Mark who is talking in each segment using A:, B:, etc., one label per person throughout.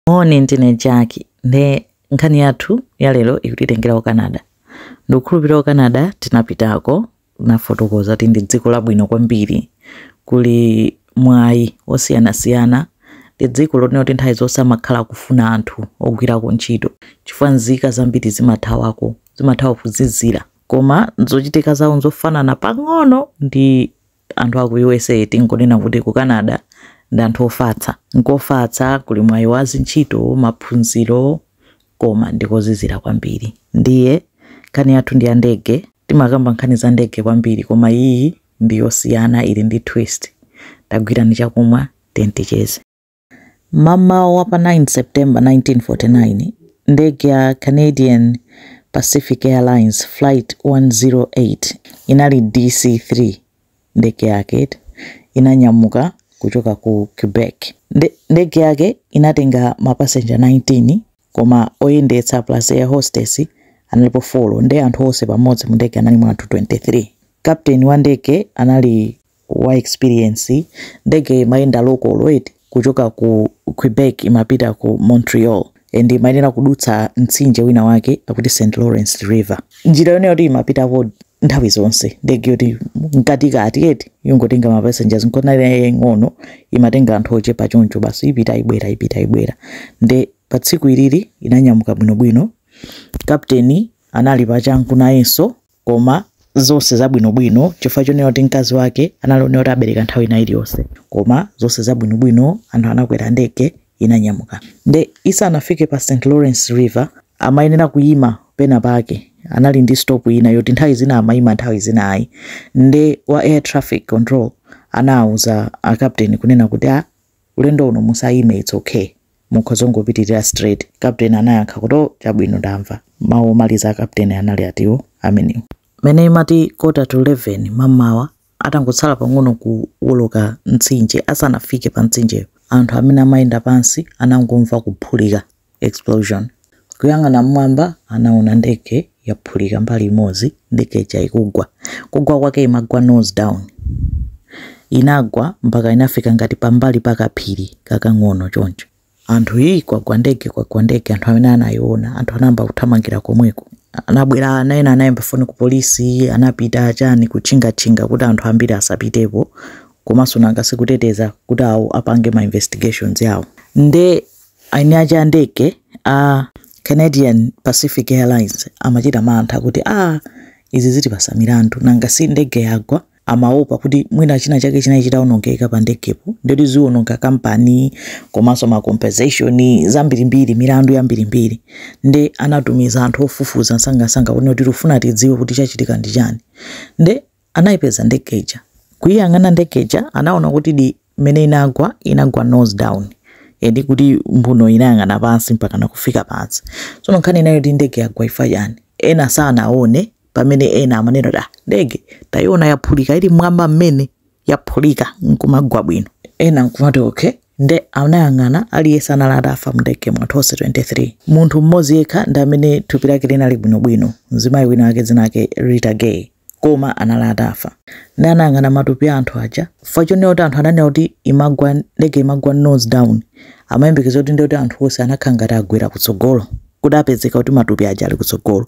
A: Moni ndine Jack nde nkhani yathu yalero ikutitengera ku Canada. Ndikukhulupirira ku Canada tinapitako nafotokoza kuti ndi dziko labwino kwambiri, kuli mwayi wosiyanasiyana, ndi dziko lonena kuti nthawi zonse amakhala kufuna anthu ogwirako ntchito chifukwa nzika zambiri zimathawako, zimathawa kuzizira koma zochitika zawo nzofanana pang'ono ndi Anthu a ku usa tingonena kuti ku Canada ndi anthu ofatsa. N'kofatsa, kuli mwayi wa zintchito, maphunziro koma ndi kozizira kwambiri. Ndiye nkhani yathu ndi ya ndege. Timakamba nkhani za ndege kwambiri koma iyi ndi yosiyana, ili ndi twist. Tagwirani chakumwa tiyeni ticheze. M'mamawa wa pa 9 September 1949, ndege ya Canadian Pacific Airlines Flight 108 inali DC-3, ndege yake, inanyamuka kuchoka ku Quebec. Ndege yake inatenga mapasenja 19 koma oyendetsa plus air hostess analipo folo nde anthu onse pamodzi mu ndege analimo anthu 23. Captain wa ndege anali wa experience ndege imayenda local kuchoka ku quebec imapita ku montreal and imayenera kudutsa mtsinje wina wake akuti st lawrence river njira yonena kuti imapitako nthawi zonse ndege yoti mkatikati yeti yongotenga ma passengers nkonali yaying'ono imatenga anthu ochepa choncho basi ipita ibwera ipita ibwera nde pa tsiku ilili inanyamuka bwinobwino kapteni anali pachangu nayenso koma zonse zabwinobwino chifukwa chonena kuti mkazi wake anali onena kuti abereka nthawi ina iliyonse koma zonse zabwinobwino anthu anakwera ndege inanyamuka nde isanafike pa st lawrence river amayenera kuyima pena pake anali ndi stop ina yoti nthawi zina amayima nthawi zina ayi nde wa air traffic control anawuza akapteni kunena kuti ulendo uno musayime its okay Mukhoza kungopitirira straight. Captain anayankha kuti, Oh, chabwino, ndamva. Mawu omaliza a Captain anali atiwo? Amenewo. Mmene imati quarter to 11 m'mamawa, atangotsala pang'ono kuwoloka mtsinje, asanafike pa mtsinjeyo, anthu amene amayenda pansi anangomva kuphulika, explosion. Kuyang'ana m'mwamba, anaona ndege yaphulika mbali imodzi, ndege ija ikugwa. Kugwa kwake imagwa nose down. Inagwa mpaka inafika ngati pambali pa kaphiri kakang'ono choncho. Anthu yi kwagwa ndege kwagwa ndege anthu amene anayiona anthu anayamba kuthamangira komweko. Anabwera ana ena anayimba foni ku polisi anapita chani kutchingatchinga kuti anthu ambiri asapitepo komanso nanga sikuteteza kuti awo apange ma investigations yawo. Nde Aini ake a ndege a Canadian Pacific Airlines amachita mantha kuti aah izi zitipasa milandu nanga si ndege yagwa amaopa kuti mwina china chake chinali chitaonongeka pa ndegepo ndoti ziononga kampani komanso ma compensation zambirimbiri milandu yambirimbiri nde anatumiza anthu ofufuza msangamsanga kuti tikufuna tidziwe kuti chachitika ndi chani nde Anaipeza ndege ija. Kuiyang'ana ndege ija anaona kutidi mmene inagwa inagwa nose down. Nde kuti mbuno inayang'ana pansi mpaka nakufika pansi. Tsono nkhani inali yoti ndege yagwa ifa chani. Ena sanaone pamene ena amanena kuti ah ndege taiona yaphulika ili mmwamba mmene yaphulika nkumagwa bwino. Ena nkumati okay nde anayang'ana aliyense anali atafa mndege anthu onse 23 munthu mmodzi yekha ndi amene thupi lake linali bwinobwino mzimayi wina wake dzina lake Rita Gay. koma anali atafa nde anayang'ana matupi a anthu aja chifukwa chonena kuti anthu ananena kuti imagwa ndege imagwa nose down amayembekeza kuti nde kuti anthu onse anakhala ngati agwera kutsogolo kuti apezeka kuti matupi aja ali kutsogolo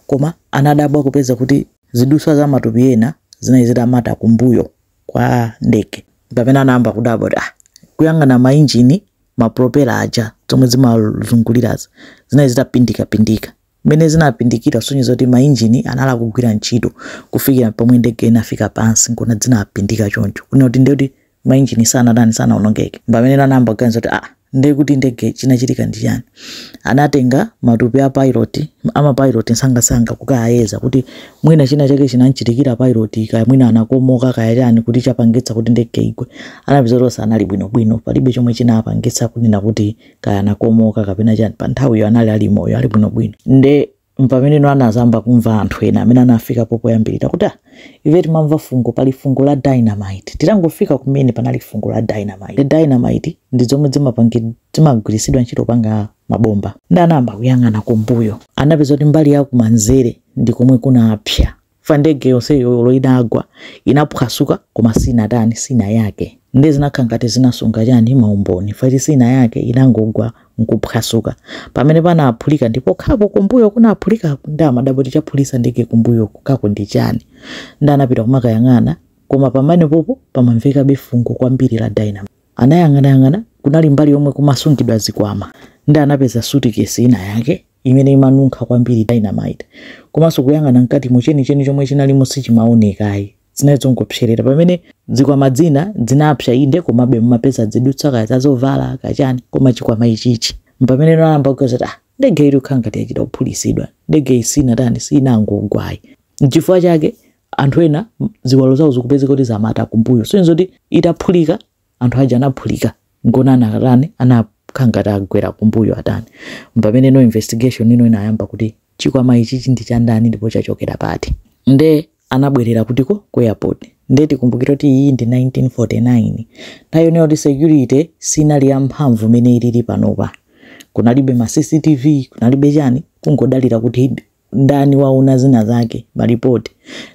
A: koma anadabwa kupeza kuti ziduswa za matupi ena zinali zitamata kumbuyo kwa ndege pamene anayamba kudabwa kuti ah kuyang'ana mainjini mapropela aja zomwe zimazungulirazi zinali zitapindikapindika Mmene zinapindikira kusonyeza kuti mainjini anali akugwira ntchito kufikira pomwe ndege inafika pansi nkona zinapindika choncho kunena kuti ndekuti mainjini sanatani sanaonongeke pamene anayamba kuganiza kuti aa ndiye kuti ndege chinachitika ndi chani anatenga matupi a pilot amapilot nsangasanga kukayeza kuti mwina china chake chinamchitikira pilot kaya mwina anakomoka kaya chani kuti chapangitsa kuti ndege igwe anapeza kuti onse anali bwinobwino palibe chomwe chinapangitsa kunena kuti kaya anakomoka kapena chani pa nthawiyo anali ali moyo ali bwinobwino nde mpameneno anadzayamba kumva anthu ena amene anafikapo poyambirira kuti "Ah, ife timamva fungo pali fungo la dynamite titangofika kumene panali fungo la dynamite ndi dynamite ndi zomwe zimapangi- zimagwiritsidwa ntchito popanga mabomba nde anayamba kuyang'ana kumbuyo anapeza kuti mbali ya kumanzere ndi komwe kunapsa fa ndege yonseyo olo inagwa inaphwasuka koma sinatani sinayake nde zinakhala ngati zinasunga chani maumboni fa kuti sinayake inangogwa nkuphwasuka pamene panaphulika ndi pokhapo kumbuyo kunaphulikaku nde amadabwa kuti chaphulisa ndege kumbuyoku kako ndi chani nde anapita kumakayang'ana koma pamene popo pamamvekabe fungo kwambiri la dynamite anayang'anayang'ana kunali mbali yomwe kumasungidwa zikwama nde anapeza sutikesi ina yake imene imanunkha kwambiri, dynamite, komanso kuyang'ana mkatimo, chenicheni chomwe chinalimo sichimaoneka ayi, zinali zongopserera, pamene zikwama dzina dzinapsa inde komabe mumapeza dzidutsa kaya za zovala kaya chani koma chikwama ichichi mpamene anayamba kuganiza kuti ah ndege iyi ikukhala ngati yachita kuphulisidwa ndege iyi sinatani sinangogwa ayi nchifukwa chake anthu ena ziwalo zawo zikupezeka kuti zamata kumbuyo sonyeza kuti itaphulika anthu aja anaphulika ngona anatani anakhala ngati agwera kumbuyo atani pameneno investigation ino inayamba kuti chikwama ichichi ndi cha ndani ndipo chachokera pati nde anabwerera kutiko ku airport nde tikumbukira kuti iyi ndi 1949 nthawi yonena kuti security sinali ya mphamvu mmene ilili panopa kunalibe ma cctv kunalibe chani kungodalira kuti ndani waona zina zake malipoti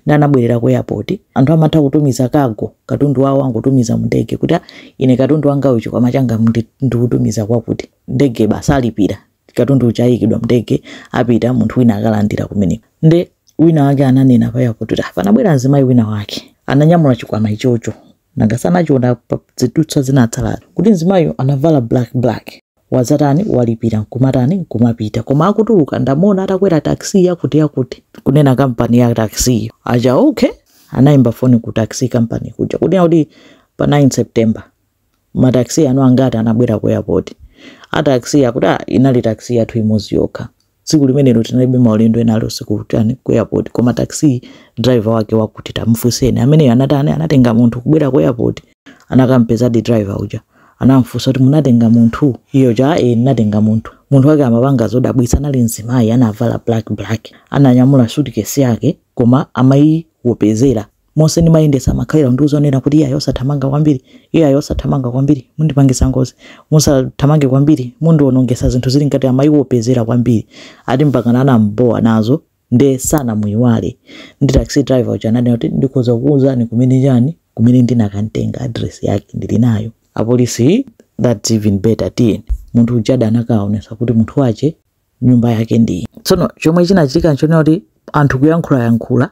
A: ndi anabwerera ku airport anthu amatha kutumiza kago katundu wawo angotumiza mndege kuti "Ah, ine katundu wanga uchi chikwama changa ndi- ndikutumiza kwakuti ndege basi alipira katundu uchi ayikidwa mndege apita munthu wina akalandira kumene nde wina wake ananena pa airport kuti "Ah, panabwera mzimayi wina wake ananyamula chikwama ichocho nanga sanachiona pa zidutsa zinatsala kuti mzimayiyo anavala black black wazatani walipira nkumatani kumapita koma akutuluka ndamuona atakwera taxi yakuti yakuti kunena kampani ya taxiyo aja okay anayimba foni ku taxi company kuja kunena kuti pa 9 september mataxi anu angati anabwera ku airport ataxi akuti "Ah, inali taxi yathu imodzi yokha Tsiku limenelo tinalibe maulendo ena alionse kutani ku airport, koma taxi driver wake wakuti tamfuseni ameneyo anatani anatenga munthu kubwera ku airport anakampezadi driver uja anamfusa kuti munatenga munthu iye uja e ndinatenga munthu munthu wake amapanga zodabwitsa anali mzimayi anavala black black ananyamula suitcase yake koma amayiwopera monse ndimayendetsa amakhalira kundiuza kunena kuti iyayi osathamanga kwambiri iyayi osathamanga kwambiri mundipangisa ngozi musathamange kwambiri mundionongesa zinthu zili ngati amayiwopera kwambiri ati mpakana anambowa nazo nde sanamuyiwale ndi taxi driver uja ananena kuti ndikhoza kukuuzani kumene chani kumene ndinakantenga address yake ndili nayo apolisi that's even better tiyeni munthu uja adanakaonesa kuti munthu wache nyumba yake ndi iyi tsono chomwe chinachitika nchonena kuti anthu kuyankhulayankhula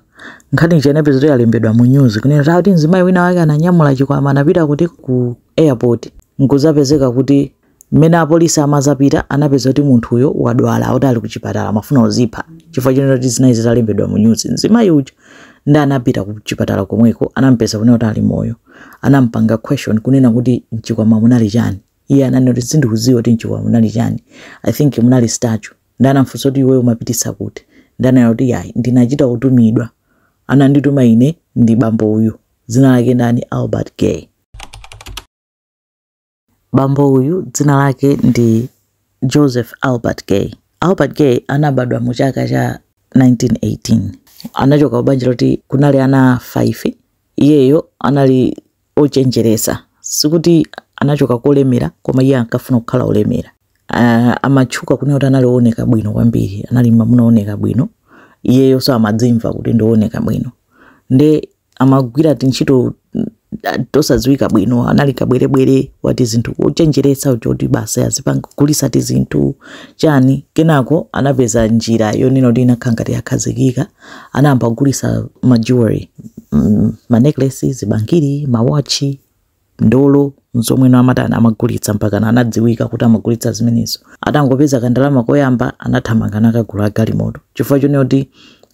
A: nkhani ija inapeza kuti yalembedwa mu news kunena kuti akuti mzimayi wina wake ananyamula chikwama anapita kuti ku airport nkuzapezeka kuti mmene apolisi amazapita anapeza kuti munthuyo wadwala akuti ali kuchipatala amafuna uzipha chifukwa chonena kuti zinali zitalembedwa mu news mzimayi uja ndi anapita ku chipatala komweko anampeza kunena kuti ali moyo anampanga question kunena kuti mchikwama munali chani Iye ananena kuti sindikuziwa kuti mchikwama munali chani I think munali statue nde anamfunsa kuti iweyo umapitisa kuti nde ananena kuti yayi ndinachita kutumidwa anandituma ine ndi bambo uyu dzina lake ndani Albert Gay bambo uyu dzina lake ndi Joseph Albert Gay Albert Gay anabadwa mu chaka cha 1918 anachokera kubanja loti kunali ana 5 iyeyo anali ochenjeresa sikuti anachoka kolemera koma iye ankafuna kukhala olemera uh, amatchuka kunena kuti anali ooneka bwino kwambiri anali mamuna ooneka bwino iyeyo so amadzimva kuti ndiooneka bwino nde amagwira tintchito mm, tosadziwika bwino anali kabwerebwere wa tizinthu ochenjeresa uja kuti basi azipangulisa tizinthu chani kenako anapeza njira yonena kuti inakhala ngati yakhazikika anayamba kugulisa ma jewelry mm, ma necklace zibangiri ma watch ndolo zomweno amatani amagulitsa mpakana anadziwika kuti amagulitsa zimenezo atangopeza kandalama koyamba anathamanga nakagula galimoto chifukwa chonena kuti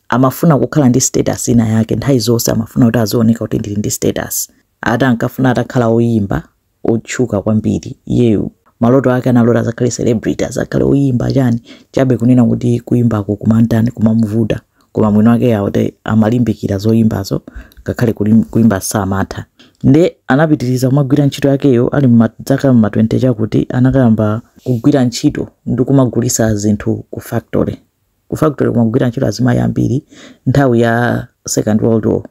A: amafuna kukhala ndi status ina yake nthawi zonse amafuna kuti azioneka kuti ndili ndi status ati ankafuna atakhala oyimba otchuka kwambiri iyeyo maloto ake analota azakhale celebrity azakhale oyimba chani chabe kunena kuti kuyimbako kumantani kumamuvuta koma mwini wake ati amalimbikira zoyimbazo ngakhale kulim- kuyimba samatha nde anapitiriza kumagwira ntchito yakeyo ali mma- dzaka mma 20 chakuti anakayamba kugwira ntchito ndi kumagulisa zinthu ku factory Ku factory kumagwira ntchito azimayi ambiri nthawi ya second world war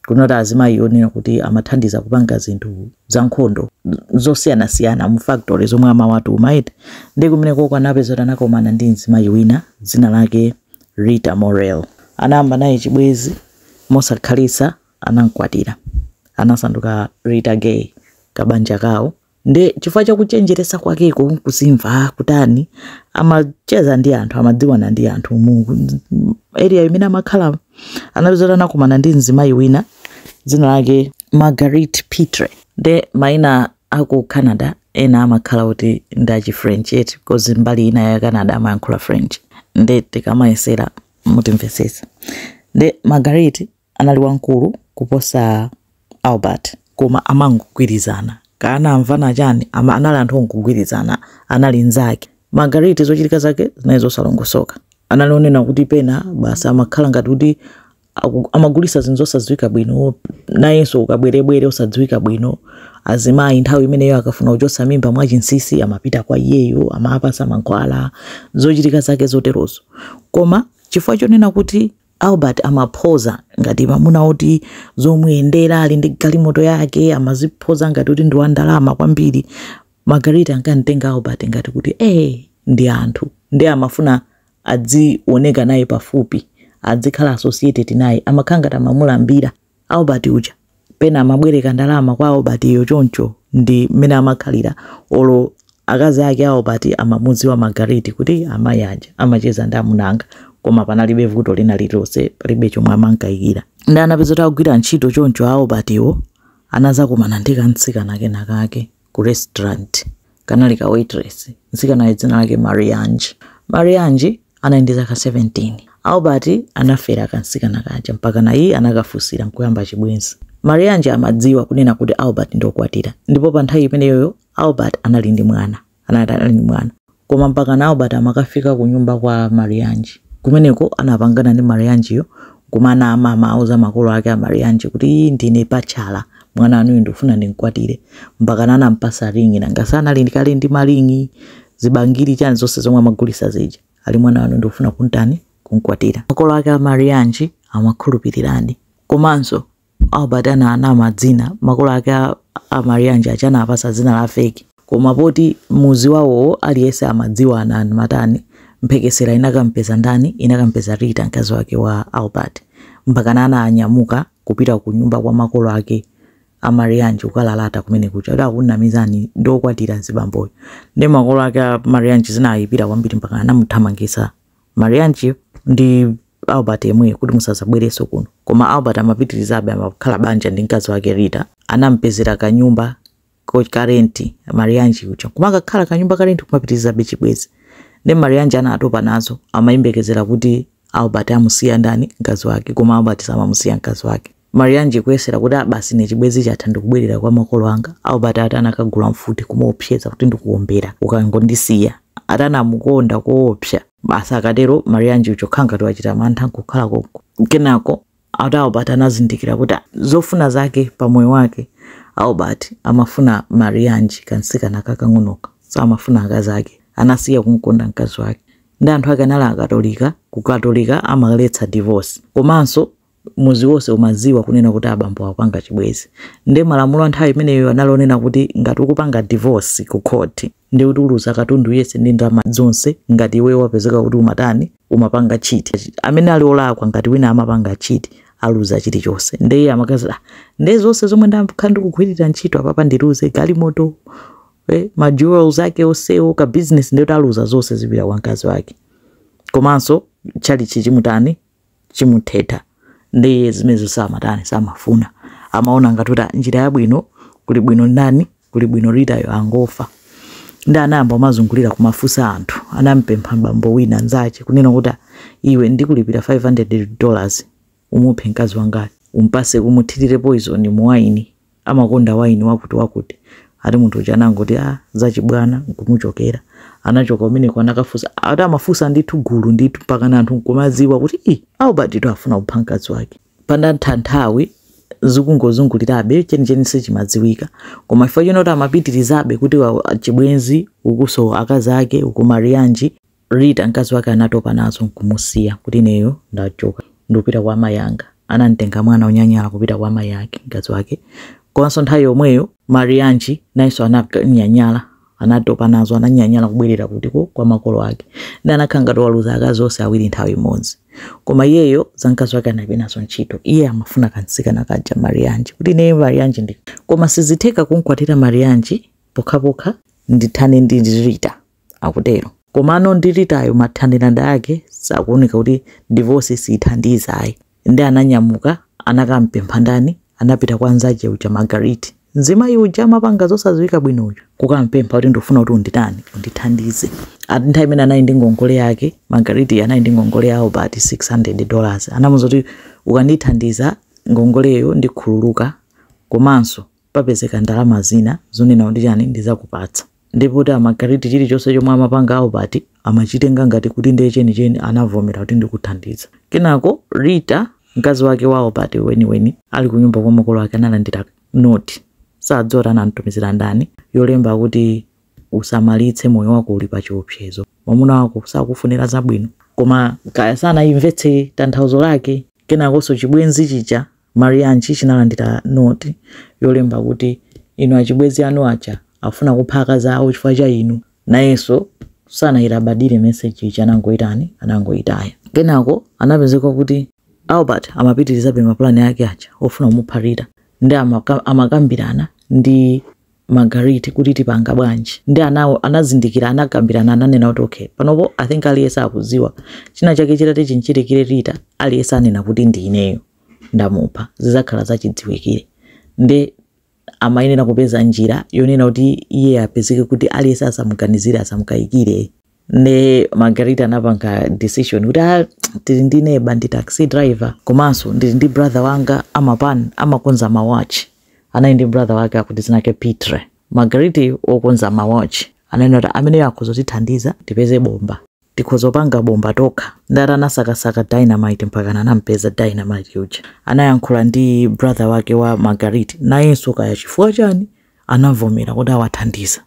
A: kunali azimayi onena kuti amathandiza kupanga zinthu za nkhondo zosiyanasiyana mu factory zomwe amawatuma eti ndi kumeneko ko anapeza kuti anakomana ndi mzimayi wina dzina lake Rita Morel anayamba naye chibwezi mosakhalitsa anamkwatira anasanduka Rita Gay kabanja kawo nde chifukwa cha kuchenjeresa kwakeko kuzimva kutani amacheza ndi anthu amadziwana ndi anthu mu area imene amakhala anapezera anakumana ndi mzimayi wina dzina lake marguerite pitre nde maina aku canada ena amakhala kuti ndachi french eti because mbali ina ya canada amayankhula french nde tikamayesera mutimvesesa nde marguerite anali wamkulu kuposa Albert. koma amangogwirizana. Kaya anamvana chani, ama anali anthu ongogwirizana. Anali nzake. Marguerite zochitika zake zinali zosalongosoka. Anali onena kuti pena basi amakhala ngati kuti aku, amagulisa zinthu zosadziwika bwino, nayenso ukabwerebwere osadziwika bwino. Azimayi nthawi imeneyo akafuna kuchotsa mimba mwachinsinsi amapita kwa iyeyo, amawapasa mankhwala, zochitika zake zoterozo. Koma chifukwa chonena kuti. Albert amaphoza ngati mamuna oti zomuyendera ali ndi galimoto yake amaziphoza ngati kuti ndi wandalama kwambiri. Marguerite ankamtenga Albert ngati kuti ee ndi anthu ndi amafuna adzioneka naye pafupi adzikhala associated naye amakhala ngati amamulambira. Albert uja pena amabwereka ndalama kwa Albert yo choncho ndi mmene amakhalira olo akazi ake Albert amamudziwa Marguerite kuti amayi aja amacheza ndi amuna anga koma panalibe vuto lina lililonse palibe chomwe amankaikira ndi anapeza kuti akugwira ntchito choncho Albert wo anazakumana ndi kamtsikana kena kake ku restaurant kanali ka waitress mtsikanayo dzina lake marianji marianji anali ndi zaka 17 albert anafera kamtsikana kaja mpakana iye anakafunsira nkuyamba chibwenzi marianji amadziwa kunena kuti albert ndiokwatira ndipo pa nthawi imeneyoyo albert anali ndi mwana anali anali ndi mwana Koma mpakana Albert amakafika kunyumba kwa Marianji. Kumeneko anapangana ndi Marianji-yo n'kumanama, amauza makolo ake a Marianji kuti, Iii ndine bachelor, mwana wanuyu ndikufuna ndim'kwatire. Mpakana anam'patsa ring'i, nanga si anali kale ndi maring'i, zibangili, chani zonse zomwe amagulitsa zija. Ali mwana wanu ndikufuna kum'tani? Kum'kwatira. Makolo ake a Marianji amakhulupiriradi. Komanso Albert ananama dzina, makolo ake a, a Marianji aja anawapasa dzina la feki koma poti muzi wawowo aliyense amadziwana amatani mphekesera inakampeza ndani inakampeza Rita mkazi wake wa Albert mpakana ananyamuka kupita ku nyumba kwa makolo ake a Marianji kukalalata kumene kuja kuti akunamizani ndi okwatira mzibamboyo nde makolo ake a Marianji zinayipira kwambiri mpakana anamuthamangitsa Marianji ndi Albert yemweyo kuti musadzabwerenso kuno. Koma Albert amapitirizabe amakhala banja ndi mkazi wake Rita. Anamupezera kanyumba ko- ka renti Marianji uja. Kumakakhala kanyumba ka renti kumapitirizabe chibwenzi. Nde Marianji anatopa nazo amayembekezera kuti Albert amusiya ndani mkazi wake koma Albert samamusiya mkazi wake. Marianji kuyesera kuti ah basi ine chibwezi chatha ndikubwerera kwa makolo anga Albert ati anakagula mfuti kumuopseza kuti ndikuombera ukangondisiya ati anamukonda koopsa basi akatero Marianji uja kukhala ngati wachita mantha nkukhala konko kenako ati Albert anazindikira kuti ah, zofuna zake pa moyo wake Albert amafuna Marianji kansikana kakang'onoka samafuna akazi ake anasiya kumkonda mkazi wake nde anthu ake anali akatolika kukatolika amaletsa divorce komanso muzi wonse umadziwa kunena kuti abambo akupanga chibwezi nde malamulo a nthawi imeneyo anali onena kuti ngati ukupanga divorce ku court nde kuti uluza katundu yese ndi ndalama zonse ngati iweyo wapezeka kuti umatani umapanga cheat amene ali olakwa ngati wina amapanga cheat aluza chilichonse nde iye amakazi "Ah, nde zonse zomwe ndakhala ndikugwirira ntchito apapa ndiluze galimoto eh, ma jewels ake onsewo ka business nde kuti aluza zonse zipita kwa mkazi wake komanso tchalichi chimutani chimuthetha ndiye zimenezo samatani samafuna amaona ngati kuti njira yabwino kuli bwino ndani kuli bwino Ritayo angofa ndi anayamba kumazungulira kumafunsa anthu anampempha m'bambo wina nzache kunena kuti iwe ndikulipira 500 dollars umuphe mkazi wangayo umpase umuthirire poison mu wayini amakonda wayini wakuti wakuti ati munthu uja anangoti a ah, zachibwana nkumuchokera anachoka kumeneko anakafunsa ati amafunsa ndithu gulu ndithu mpaka na anthu nkumadziwa kuti i Albert afuna kupha mkazi wake panadatha nthawi zikungozungulirabe chenicheni sichimadziwika koma chifukwa chonoti amapitirizabe kuti chibwenzi ukunso akazi ake uku Marianji Rita, mkazi wake anatopa nazo nkumusiya kuti ineyo ndachoka ndikupita kwa amayi anga. Anamtenga mwana onyanyala kupita kwa amayi ake, mkazi wake. Komanso nthawi yomweyo Marianji nayenso ananyanyala, anatopa nazo, ananyanyala kubwerera kutiko kwa makolo ake. Ndi anakhala ngati waluza akazi onse awiri nthawi imodzi. Koma iyeyo za mkazi wake analibe nazo ntchito. Iye amafuna kamtsikana kaja Marianji kuti ineyo Marianji ndi. Koma sizitheka kumkwatira Marianji pokhapokha ndithane ndi Rita. akutero. Komano ndi Ritayo mathanirana ake sakuoneka kuti divorce siithandiza ayi nde ananyamuka anakampempha ndani anapita kwa nzache uja Margaret mzimayi uja amapanga zosadziwika bwino uja kukampempha kuti ndufuna kuti unditani undithandize ati nthawi imene anali ndi ngongole yake Margaret anali ndi ngongole ya Albert 600 dollars anamuza kuti ukandithandiza ngongoleyo ndikhululuka komanso papezeka ndalama zina zonena kuti chani ndizakupatsa ndipo kuti Margaret chilichonse chomwe amapanga Albert amachitenga ngati kuti ndiye chenicheni anavomera kuti ndikuthandiza kenako Rita mkazi wake wa Albert weniweni ali kunyumba kwa makolo ake analandira note sadziwa kuti anamtumizira ndani yolemba kuti usamalitse moyo wako uli pa chiopsezo mwamuna wako sakufunira zabwino koma kaya sanayimvetse tanthauzo lake kenakonso chibwenzi chija Marianji chinalandira note yolemba kuti, Inu achibwenzi anu aja akufuna kupha akazi awo chifukwa cha inu. Nayenso sanailabadire message ija anangoitani, anangoitaya. Kenako anapezeka kuti Albert amapitirizabe mapulani ake aja ofuna kumupha Rita nde amakambirana ndi Margaret kuti tipanga bwanji ndi anawo anazindikira anakambirana ananena kuti okay panopo i think aliyense akudziwa china chake chitati chimchitikire Rita aliyense anena kuti ndi ineyo ndamupha zizakhala zachidziwikire nde amayenera kupeza njira yonena kuti iye apezeke kuti aliyense asamuganizire asamukayikire nde margaret anapanga decision kuti a ah, tili ndi neba ndi taxi driver komanso ndili ndi brother wanga amapan amakonza mawatch anali ndi brother wake akuti zinake pitre margaret wokonza mawatch ananena kuti ameneyo akhoza kutithandiza tipeze bomba tikhoza kupanga bomba tokha ndiye anasakasaka dynamite mpaka anampeza dynamite uja anayankhula ndi brother wake wa margaret nayenso kaya chifukwa chani anavomera kuti awathandiza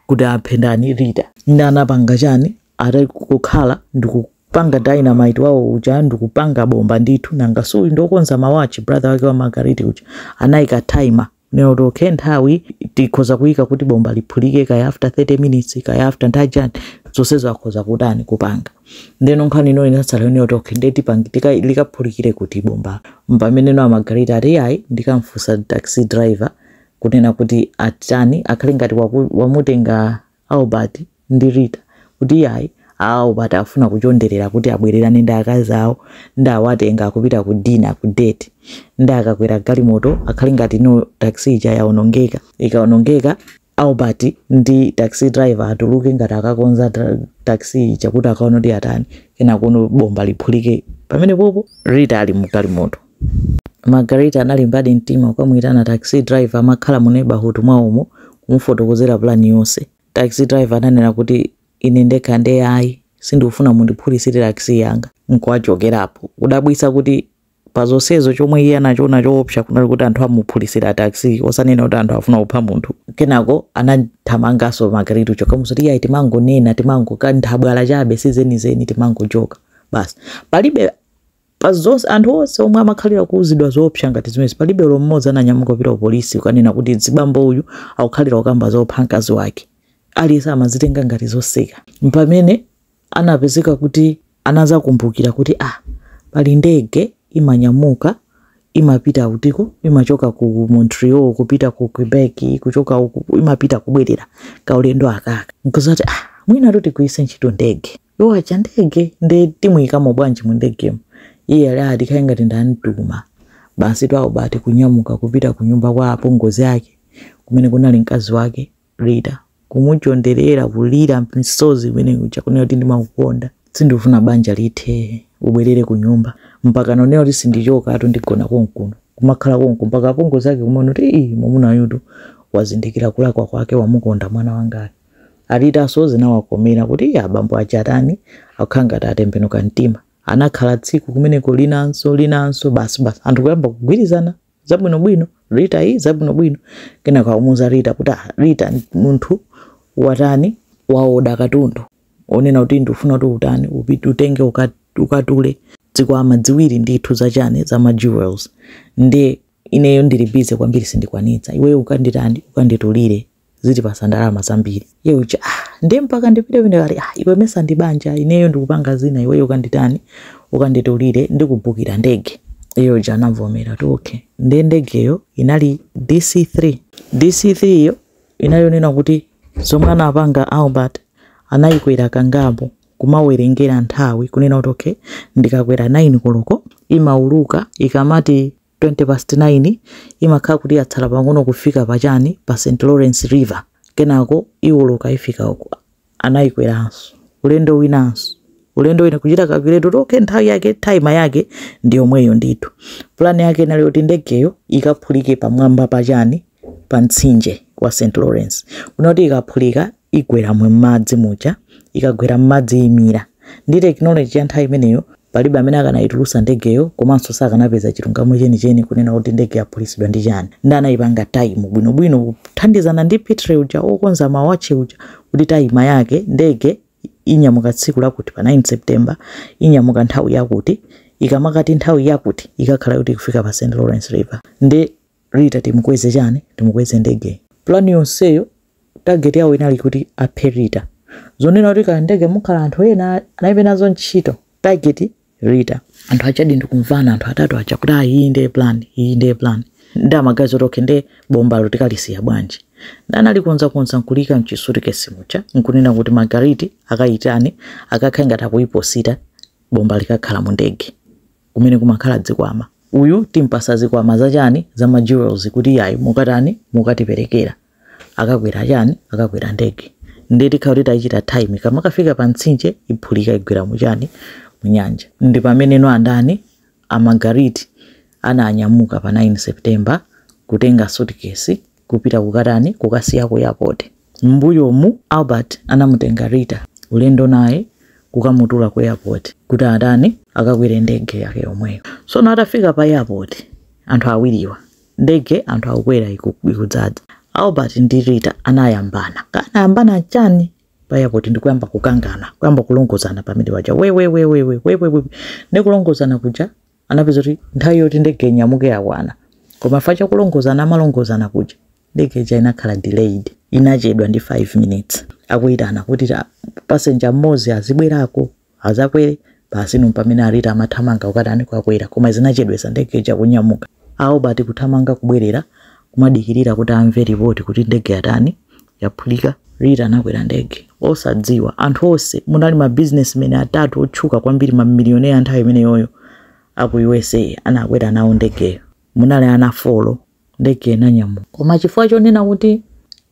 A: kuti aphe ndani Rita nde anapanga chani ati kukhala ndikupanga dynamite wawo uja ndikupanga bomba ndithu nanga suyu ndokonza mawatch brother wake wa Margaret uja anayika timer kunena kuti okay nthawi tikhoza kuyika kuti bomba liphulike kaya after 30 minutes kaya after nthawi chani zonsezo akhoza kutani kupanga ndeno nkhani ino inatsala yonena kuti okay nde tipange tika- likaphulikire kuti bomba mpamene no a Margaret ati ayi ndikamfusa taxi driver kunena kuti atani akhale ngati waku, wamutenga Albert ndi Rita kuti iyayi a Albert afuna kuchonderera kuti abwererane ndi akazi awo nde awatenga akupita ku dinner ku date nde akakwera galimoto akhale ngati no taxi ija yaonongeka ikaonongeka Albert ndi taxi driver atuluke ngati akakonza ta- taxi ija kuti akaona kuti atani kenaka no bomba liphulike pamenepopo Rita ali mu galimoto Margaret analimbadi mtima kukamuitana taxi driver amakhala mu neighborhood mwawomo kumufotokozera plan yonse. Taxi driver ananena kuti, Ine ndekha ndiye ayi, sindikufuna mundiphulisire taxi yanga nkuwachokera. Kudabwisa kuti pa zonsezo chomwe iye anachiona choopsa kunali kuti anthu amuphulisira taxi osanena kuti anthu akufuna kupha munthu. Kenako anathamangaso Margaret uja kukamuuza kuti, Iyayi timangonena, timango, ka nthabwala chabe si zenizeni timangojoka basi. Palibe pa zonse, anthu onse omwe amakhalira kuuzidwa zoopsa ngati zimenezi, palibe olo mmodzi ananyamuka kupita ku polisi kukanena kuti mzibambo uyu akukhalira kukamba zopha mkazi wake. Aliyense amazitenga ngati zoseka. Mpamene anapezeka kuti anazakumbukira kuti ah pali ndege imanyamuka imapita kutiko, imachoka ku Montreal kupita ku Quebec, kuchoka uku imapita kubwerera kaulendo akaka. Nkuzati ah mwinatu tigwiritse ntchito ndege. iwo aja ndege nde timuyikamo bwanji mu ndegemo iye ali adikire kaye ngati ndamtuma basi Albert kunyamuka kupita ku nyumba kwa apongozi ake kumene kunali mkazi wake rita kumuchonderera kulira misozi mmene muja kunena kuti ndimakukonda sindikufuna banja lithe ubwerere ku nyumba mpaka kunena kuti sindichoka atu ndigona konkuno kumakhala konku mpaka apongozi ake kumaona kuti ii mwamuna uyutu wazindikira kulakwa kwake wamukonda mwana wangayu A Rita so zinawakomera kuti abambo aja atani, akukhala ngati atembenuka mtima. Anakhala tsiku limenelo linanso, linanso, basi, basi. Anthu kuyamba kugwirizana zabwinobwino, Rita iyi zabwinobwino. Kenako akumuuza Rita kuti ah, Rita munthu watani waoda katundu onena kuti ndikufuna kuti utani upite utenge ukat- ukatule zikwama ziwiri ndithu zachani za ma jewels ndiye ineyo ndili busy kwambiri sindikwanitsa iweyo ukanditani ukanditulire zitipasa ndalama zambiri iye uja ah, nde mpaka ndipite pamene ali ah, iwe mesa ndi banja ineyo ndikupanga zina iweyo ukanditani ukanditulire ndikubukira ndege iye uja anavomera kuti okay ndiye ndegeyo inali dc3 dc3 iyo inali yonena kuti zomwe anapanga albert anayikwera kangapo kumawerengera nthawi kunena kuti okay ndikakwera 9 koloko imauluka ikamati 20 past 9 imakhala kuti yatsala pang'ono kufika pa chani pa st lawrence river kenako iwoloka ifika uko anayikweranso ulendo winanso ulendo wina kuchita calculate okay nthawi yake time yake ndi yomweyo ndithu plan yake inali yoti ndegeyo ikaphulike pamwamba pa chani pa mtsinje wa St Lawrence kunena kuti ikaphulika igwera mu madzi muja ikagwera m'madzi imira ndi tekinoloji ya nthawi imeneyo palibe amene akanayitulusa ndegeyo komanso sakanapeza chilungamo chenicheni kunena kuti ndege yaphulisidwa ndi chani nde anayipanga time bwinobwino kuthandizana ndi pitre uja okonza mawatchi uja kuti time yake ndege inyamuka tsiku lakuti pa 9 september inyamuka nthawi yakuti ikamati nthawi yakuti ikakhala kuti ikufika pa st lawrence river ndi Rita timukweze chani? Timukweze ndege? Plan yonseyo target yawo inali kuti aphe Rita. Zonena kuti kaya ndege mukhala anthu ena analibe nazo ntchito. Target Rita. Anthu ajadi n'kumvana anthu atatu aja kuti ayi iyi ndiye plan, iyi ndiye plan. Nde amaganiza zoti okay ndiye bombalo tikalisiya bwanji? Nde analikonzakonza nkuliika mchisutikesi muja nkunena kuti Margariti akaitani akakhale ngati akuiposita bomba likakhala mundege. kumene kumakhala dzikwama. Uyu timpasa zikwama za chani za ma jewels kuti yayi mukatani mukatiperekera. Akakwera chani akakwera ndege. Ndiye tikhala kuti taichita time ikamakafika pa mtsinje iphulika igwera mu chani mu nyanja. Ndi pamene no andani a Margariti ananyamuka pa 9 September kutenga suitcase Kupita kukatani? Kukasiya ku airport. Mmbuyomu Albert anamutenga Rita ulendo naye kukamutula ku airport kuti atani? Akakwere ndege yake yomweyo. Tsono atafika pa airport anthu awiriwa, ndege anthu akukwera ikudzadza. Albert ndi Rita anayambana. Kaya anayambana chani? Pa airport ndi kuyamba kukangana, kuyamba kulongozana pamene paja wewewewewe wewewe. Ndi kulongozana kuja anapeza kuti nthawi yoti ndege inyamuke yakwana koma chifukwa cha kulongozana amalongozana kuja ndege ija inakhala delayed inachedwa ndi 5 minutes akuyitana kuti ta- passenger mmodzi azibwerako azakwere basi ndi pamene a Rita amathamanga ukatani kukakwera koma zinachedwetsa ndege ija kunyamuka Albert kuthamanga kubwerera kumadikirira kuti amve ripoti kuti ndege yatani yaphulika. Rita anakwera ndege osadziwa. Anthu onse munali ma businessmen atatu otchuka kwambiri, ma millionaire a nthawi imeneyoyo a ku USA anakwera nawo ndegeyo. Munali ana 4, ndege inanyamuka. Koma chifukwa chonena kuti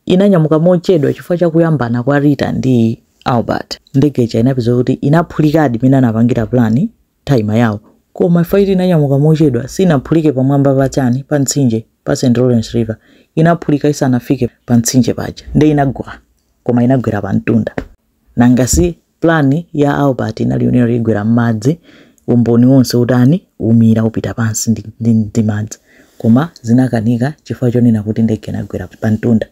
A: inanyamuka mochedwa chifukwa cha kuyambana kwa Rita ndi Albert, ndege ija inapezeka kuti inaphulikadi mmene anapangira plan time yawo. Koma flight inanyamuka mochedwa, sinaphulike pamwamba pa chani, pa mtsinje, pa St. Lawrence River. Inaphulika isanafike pa mtsinje paja. Nde inagwa. Koma inagwera pa mtunda. Nanga si plan ya Albert inali yonena kuti igwera mmadzi, umboni wonse utani, umira, upita pansi ndi, ndi, ndi madzi. Koma zinakanika chifukwa chonena kuti ndege inagwera pa mtunda.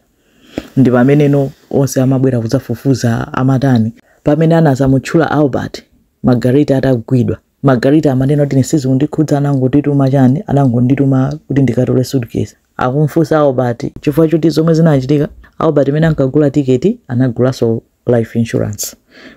A: Ndi pamene no, onse amabwera kudzafufuza, amatani. Pamene anazamutchula Albert, Margarita atagwidwa. Margarita amanena kuti ine sizikundikhudza anangondituma chani anangondituma kuti ndikatole suitcase. Akumfunsa Albert chifukwa choti zomwe zinachitika Albert mene ankagula ticket anagulaso life insurance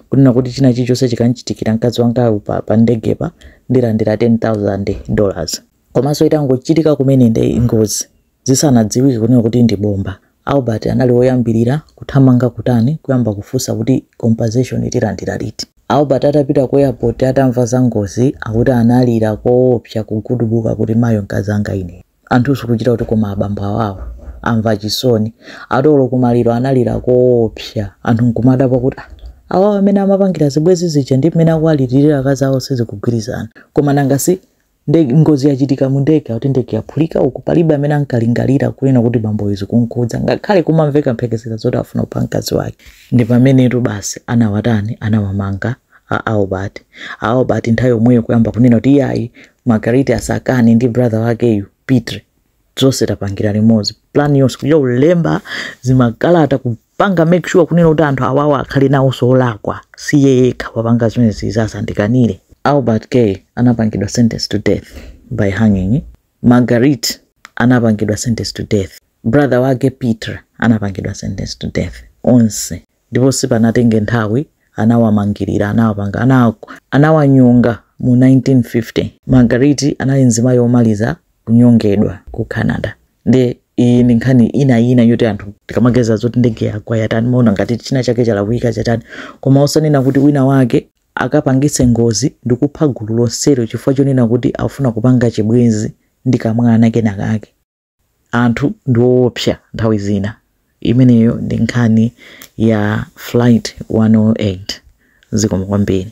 A: kunena kuti china chilichonse chikamchitikira mkazi wangayu pa pa ndegepa ndilandira 10,000 dollars. Komaso itangochitika kumene nde ngozi Zisanadziwike kunena kuti ndi bomba, Albert anali woyambirira kuthamanga kutani kuyamba kufunsa kuti compensation tilandira liti. Albert atapita ku airport atamva za ngozi akuti analira koopsa kugudubuka kuti mayo mkazanga inee. Anthu sikuchita kuti koma abambo awawa amva chisoni. Ati olo ku maliro analira koopsa anthu nkumadabwa kuti ah awawa mmene amapangira zibwezi zija ndi mmene akuwaliririra akazi awo sizikugwirizana. Koma nanga si Ndege, ngozi yachitika mu ndege akuti ndege yaphulika uku palibe amene ankalingalira kunena kuti bamboyo zikunkhudza ngakhale kumamveka mphekesera zoti afuna kupha mkazi wake ndi pamenetu basi anawatani anawamanga a Albert a Albert nthawi yomweyo kuyamba kunena kuti iyayi Margariti asakane ndi brother wakeyu Pitre zonse tapangira limodzi plan yonse kuchita kulemba zimakalata kupanga make sure kunena kuti anthu awawo akhale nawonso olakwa si iye yekha wapanga zimenezi asandikanire Albert Guay anapangidwa sentence to death by hanging margarit anapangidwa sentence to death brother wake Pitre anapangidwa sentence to death onse Ndipo sipanatenge nthawi anawamangirira, anawapanga, anawanyonga mu 1950. Marguerite anali mzimayi womaliza kunyongedwa ku Canada. Ndiye iyi ndi nkhani ina yina yoti anthu tikamaganiza zoti ndege yagwa yatani maona ngati china chake chalakwika chatani, koma osanena kuti wina wake akapangitse ngozi ndikupha gulu lonselo chifukwa chonena kuti akufuna kupanga chibwenzi ndi kamwana kena kake. Anthu ndi owopsa nthawi zina. Imeneyo ndi nkhani ya Flight 108. Zikomo kwambiri.